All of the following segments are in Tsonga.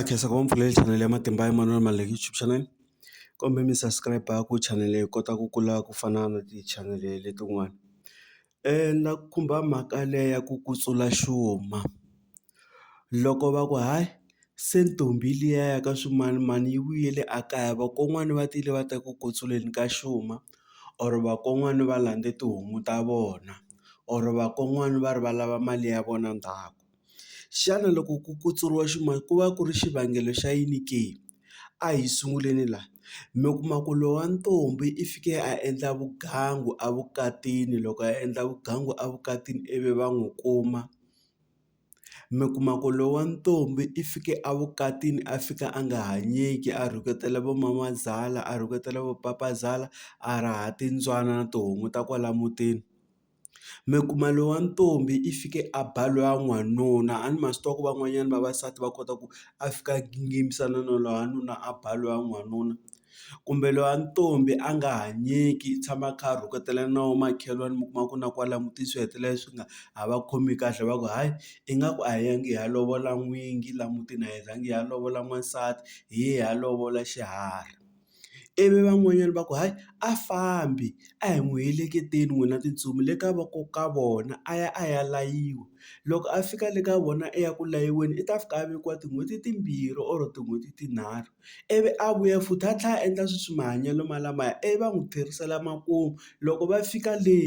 khensa ku va mpfulele chanel ya matimba ya manana ma like YouTube channel kumbe mi subscribe ku channel yi kota ku kula ku fana na ti-channel letin'wana na ku khumba mhaka leyi ya ku ku sula xuma loko va ku hayi se ntombi liya ya ka swimanimani yi vuyele a kaya vakon'wana va tile va ta ku ku tsuleni ka xuma or vakon'wana va landze tihomu ta vona or vakon'wana va ri va lava mali ya vona ndzhaku. Xana loko ku kutsuriwa ximoya ku va ku ri xivangelo xa yini ke? A hi sunguleni la, mi kuma ku loyi wa ntombi i fike a endla vugangu a vukatini loko a endla vugangu a vukatini ivi va n'wi kuma, mi kuma ku loyi wa ntombi i fike a vukatini a fika a nga hanyeki a rhuketela vo mamazala a rhuketela vo papazala a raha timbyana na tihomu ta kwala mutini. mi kuma loyi wa ntombi i fike a ba loyi wa n'wanuna a ni ma swi tiva ku van'wanyana vavasati va kota ku a fika a gingimisana na loyi wa nuna a ba loyi wa n'wanuna kumbe loyi wa ntombi a nga hanyeki i tshama a kha a rhuketela na wo makhelwani mi kuma ku na kwala mutini swi hetelela swi nga ha va khomi kahle va ku hayi ingaku a hi yangi hi ya lovola n'wingi la mutini a hi zangi hi ya lovola n'wansati hi ye hi ya lovola xiharhi. ivi van'wanyana va ku hayi a fambi a hi n'wi heleketeni n'wina titsumi le ka voko ka vona a ya a ya layiwa loko a fika le ka vona i ya ku layiweni i ta fika a vekiwa tin'hweti timbirhi or tin'hweti tinharhu ivi a vuya futhi a tlhela a endla sweswi mahanyelo ma lamaya ivi va n'wi tlherisela makumu loko va fika le.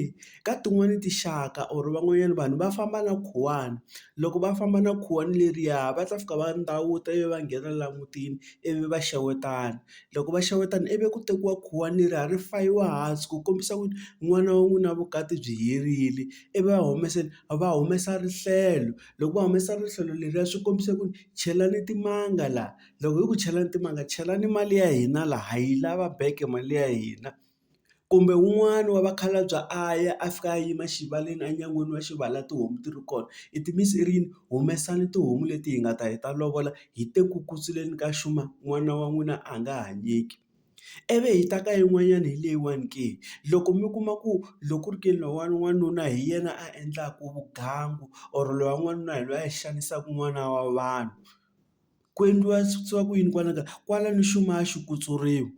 Ka tin'wani tinxaka or van'wanyana vanhu va famba na khuwani loko va famba na khuwani leriya va ta fika va ndawuta ivi va nghena la mutini ivi va xewetana loko va xewetana ivi ku tekiwa khuwani leriya ri fayiwa hansi ku kombisa ku n'wana wa n'wina vukati byi herile ivi va humesa va humesa rihlelo loko va humesa rihlelo leriya swi kombisa ku chelani timanga la loko hi ku chelani timanga chelani mali ya hina la ha yi lava back mali ya hina. kumbe wun'wani wa vakhalabye a ya a fika a yima xivaleni enyangweni wa xivala tihomu ti ri kona i ti miss i ri yini humesani tihomu leti hi nga ta hi ta lovola hi te ku kusuleni ka xuma n'wana wa n'wina a nga hanyeki ivi hi ta ka yin'wanyana hi leyiwani ke loko mi kuma ku loko ku ri ke lowuwani wanuna hi yena a endlaku vugangu or loyi wa n'wanuna hi loyi a xanisaka n'wana wa vanhu. ku endliwa swa ku yini kwala kaya kwala ni xuma a xi kutsuriwi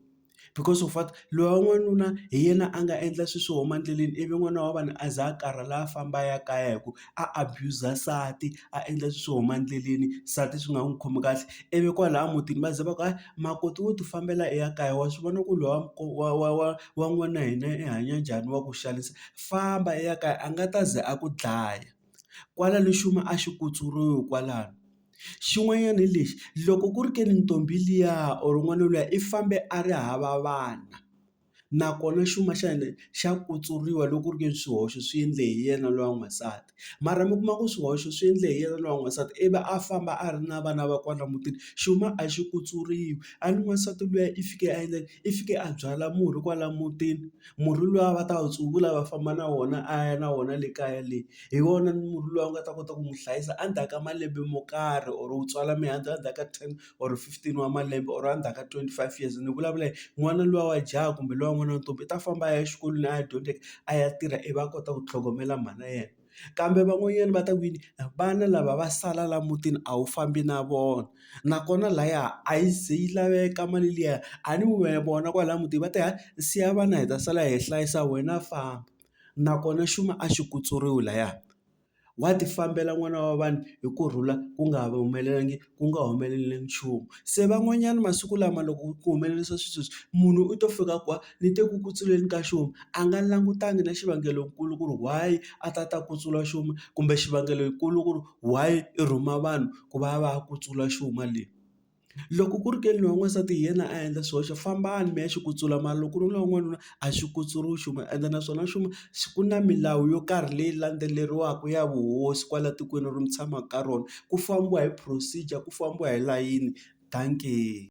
because of what loyi wa n'wanuna hi yena a nga endla swilo swo huma endleleni ivi n'wana wa vanhu a za a karhala a famba a ya kaya hi ku a abuser nsati a endla swilo swo huma endleleni nsati swi nga n'wi khomi kahle ivi kwalaya mutini va za va ku hayi makoti wo ti fambela i ya kaya wa swi vona ku loyi wa wa wa wa n'wana wa hina i hanya njhani wa ku xanisa famba i ya kaya a nga ta ze a ku dlaya kwala ni xuma a xi kutsuriwi kwalano. Xin'wanyana hi lexi, loko ku ri ke ni ntombi liya or n'wana luya i fambe a ri hava vana, nakona xuma xa yena xa kutsuriwa loko ku ri ke ni swihoxo swi endle hi yena luya n'wansati. Mara mi kuma ku swihoxo swi endle hi yena luya n'wansati ivi a famba a ri na vana va kwala mutini, xuma a xi kutsuriwi. A ni n'wansati luya i fike a endla yini? I fike a byala murhi kwala mutini, murhi luwa va ta wu tsuvula va famba na wona a ya na wona le kaya le. hi wona murhi loyi a nga ta kota ku n'wi hlayisa endzhaku ka malembe mo karhi or u tswala mihandzu endzhaku ka ten or fifteen wa malembe or endzhaku ka twenty five years ni vulavula hi n'wana luya wa jaha kumbe luya n'wana wa ntombi u ta famba a ya exikolweni a ya dyondzeke a ya tirha ivi a kota ku tlhogomela mhana yena kambe van'wanyana va ta ku yini vana lava va sala laha mutini a wu fambi na vona nakona lahaya a yi ze yi laveka mali liya a ni wehe vona kwalaya mutini va te hayi siya vana hi ta sala hi hlayisa wena famba. nakona xuma a xi kutsuriwi lahaya wa ti fambela n'wana wa vanhu hi ku rhula ku nga humelelangi ku nga humeleli nchumu se van'wanyana masiku lama loko ku humelerisa swi sweswi munhu u to fika ku wa ni te ku kutsuleni ka xuma a nga langutanga na xivangelonkulu ku ri why a ta ta kutsula xuma kumbe xivangelonkulu ku ri why i rhuma vanhu ku va va ya kutsula xuma le. Loko ku ri ke ni loyi wa n'wansati hi yena a endla swihoxo fambani mi ya xi kutsula mara loko ku ri loyi wa n'wanuna a xi kutsuriwi nchumu ende naswona nchumu ku na milawu yo karhi leyi landzeleriwaka ya vuhosi kwala tikweni ri mi tshamaka ka rona ku fambiwa hi procedure ku fambiwa hi layini dankie.